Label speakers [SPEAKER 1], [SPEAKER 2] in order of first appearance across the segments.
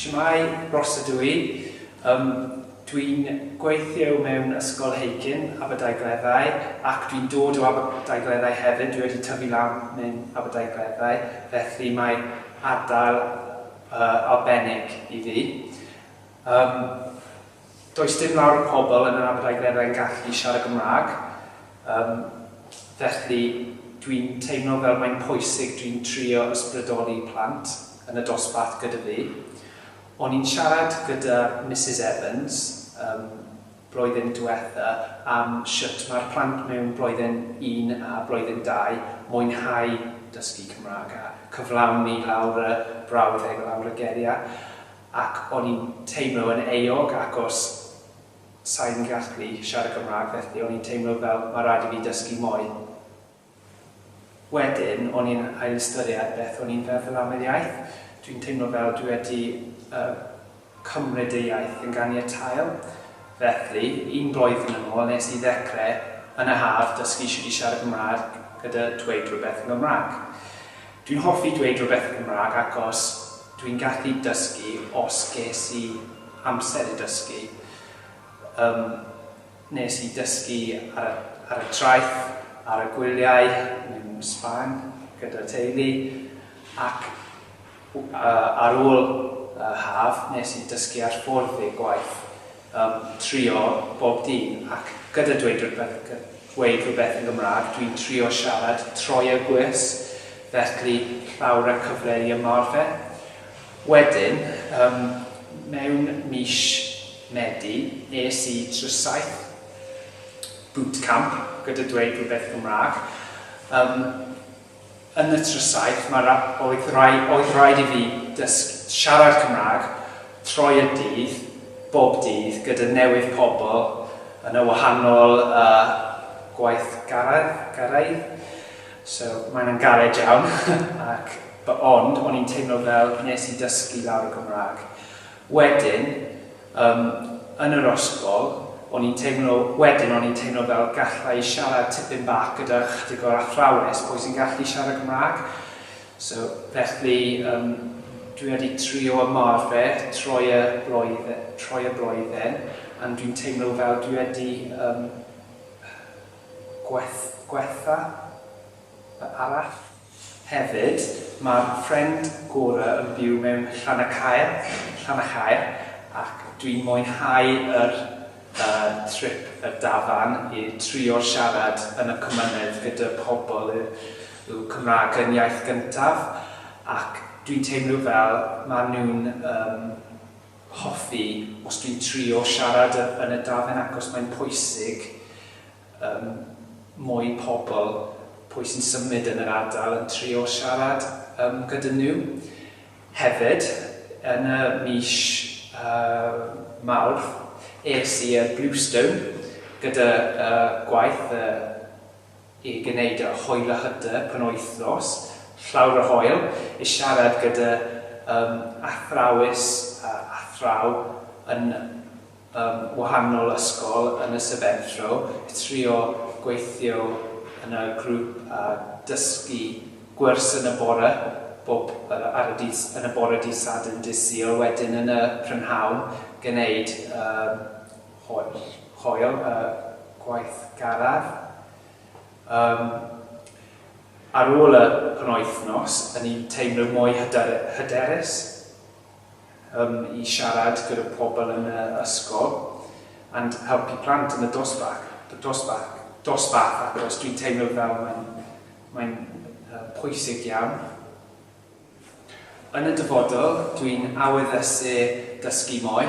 [SPEAKER 1] Shwmae, Rhos ydw i. Yym, dwi'n gweithio mewn ysgol Heicyn, Aberdaugleddau, ac dwi'n dod o Aberdaugleddau hefyd, dwi wedi tyfu lan mewn Aberdaugleddau, felly mae ardal yy arbennig i fi. Yym. Does dim lawr o pobl yn yr Aberdaugleddau yn gallu siarad Gymraeg, yym, felly dwi'n teimlo fel mae'n pwysig dwi'n trio ysbrydoli plant yn y dosbarth gyda fi. O'n i'n siarad gyda Misus Evans, yym, blwyddyn diwetha am shwt mae'r plant mewn blwyddyn un a blwyddyn dau mwynhau dysgu Cymraeg a cyflawni lawr y brawddeg o lawr y geriau. ac o'n i'n teimlo yn euog acos sai'n gallu siarad Cymraeg felly o'n i'n teimlo fel ma' raid i fi dysgu mwy. Wedyn o'n i'n ailystyried beth o'n i'n feddwl am yr iaith, dwi'n teimlo fel dwi wedi yy cymryd y iaith yn ganiataol felly un blwyddyn yn ôl nes i ddecre yn y haf dysgu shwt i siarad Cymraeg gyda dweud rhywbeth yn Gymraeg. Dwi'n hoffi dweud rhywbeth yn Gymraeg acos Dwi'n gallu dysgu os ges i amser i dysgu. Yym, nes i dysgu ar y ar y traeth, ar y gwyliau yn Sbaen gyda teulu, ac ar ôl y haf nes i dysgu ar ffordd i'r gwaith. Yym, trio bob dydd, ac gyda dweud rhywbeth, gy- gweud rhywbeth yn Gymraeg, dwi'n trio siarad troi a gwys, felly llawr a cyfle i ymarfer. Wedyn, yym, mewn mis Medi, es i trwy saith bootcamp gyda dweud rhywbeth Gymraeg. Yym, Yn y Trysaith, mae ra-, oedd rai-, oedd raid i fi dysg-, siarad Cymraeg troi y dydd, bob dydd, gyda newydd pobl yn y wahanol yy gwaithgaredd, garaidd. So, mae hwnna'n galed iawn ac b- ond o'n i'n teimlo fel wnes i dysgu lawr y Gymraeg. Wedyn, yym, yn yr ysgol, o'n i'n teimlo, wedyn o'n i'n teimlo fel galla i siarad tipyn bach gyda chydig o'r athrawes, pwy sy'n gallu siarad Cymraeg? So, felly, yym, dwi wedi trio ymarfer troi y blwyddyn, troi y blwyddyn, and dwi'n teimlo fel dwi wedi, yym, gweth, gwella fy arall. Hefyd, mae'r ffrind gorau yn byw mewn Llanacaer, Llanachaer, ac dwi'n mwynhau yr er trip y dafarn i trio'r siarad yn y cymynedd gyda pobl yw Cymraeg yn iaith gyntaf ac dwi'n teimlo fel mae nhw'n ym hoffi os dwi'n trio siarad yn y dafarn acos mae'n pwysig Mae mwy pobl, pwy sy'n symud yn yr ardal, yn trio siarad gyda nhw. Hefyd, yn y mis Mawrth, es i i'r Bluestone gyda gwaith i gwneud y Hoel a Hyder Penwythnos Llawr y Hoel i siarad gyda athrawes a athraw yn ym wahanol ysgol yn y Sebentro i trio gweithio yn y grŵp a dysgu gwrs yn y bore bob ar y dydd yn y bore dydd Sadwrn dydd Sul wedyn yn y prynhawn gneud yr holl hoel y gwaith garraf yym ar ôl y penwythnos o'n i'n teimlo mwy hyder hyderus um, i siarad gyda pobl yn y ysgol and helpu plant yn y dosbarth, dosbarth, dosbarth achos dwi'n teimlo fel mae'n mae'n uh, pwysig iawn. Yn y dyfodol, dwi'n aweddysu dysgu mwy.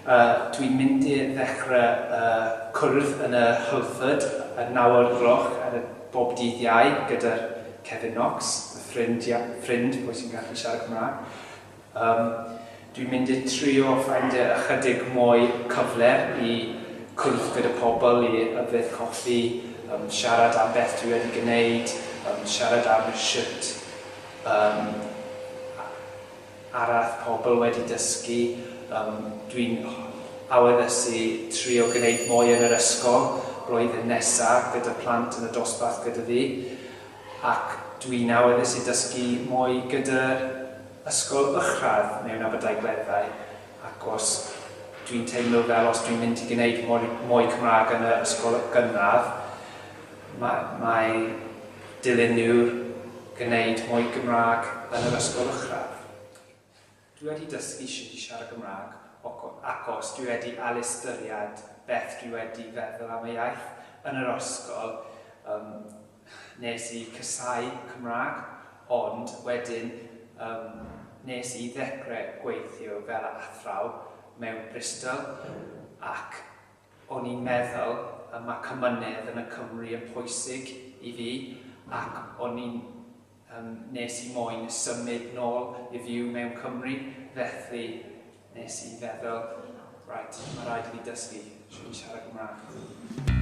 [SPEAKER 1] Uh, dwi'n mynd i ddechrau uh, cwrdd yn y Hylford y naw o'r gloch ar y bob dydd iau gyda'r Kevin Knox, y ffrind, ffrind pwy sy'n gallu siarad Cymraeg. Yym, dwi'n mynd i trio ffeindio ychydig mwy cyfle i cwrdd gyda pobl, i yfed coffi, yym, siarad am beth dwi wedi gwneud, yym, siarad am shwt yym, arall pobl wedi dysgu. Yym, dwi'n aweddysu trio gwneud mwy yn yr ysgol blwyddyn nesa gyda plant yn y dosbarth gyda fi. Ac dwi'n awyddus i dysgu mwy gyda'r ysgol uwchradd mewn Aberdaugleddau, ac os dwi'n teimlo fel os dwi'n mynd i gwneud mwy mwy Cymraeg yn yr ysgol gynradd, mae mae dilyn nhw gwneud mwy Gymraeg yn yr ysgol uwchradd. Dwi wedi dysgu shwt i siarad Cymraeg ac os dwi wedi ail ystyried beth dwi wedi feddwl am y iaith yn yr ysgol yym nes i casau Cymraeg ond wedyn yym nes i ddecre gweithio fel athraw mewn Bristol ac o'n i'n meddwl y ma' cymynedd yn y Cymru yn pwysig i fi ac o'n i'n Yym, nes i moyn symud nôl i fyw mewn Cymru, felly nes i feddwl, right, mae rhaid i fi dysgu sut i siarad Cymraeg.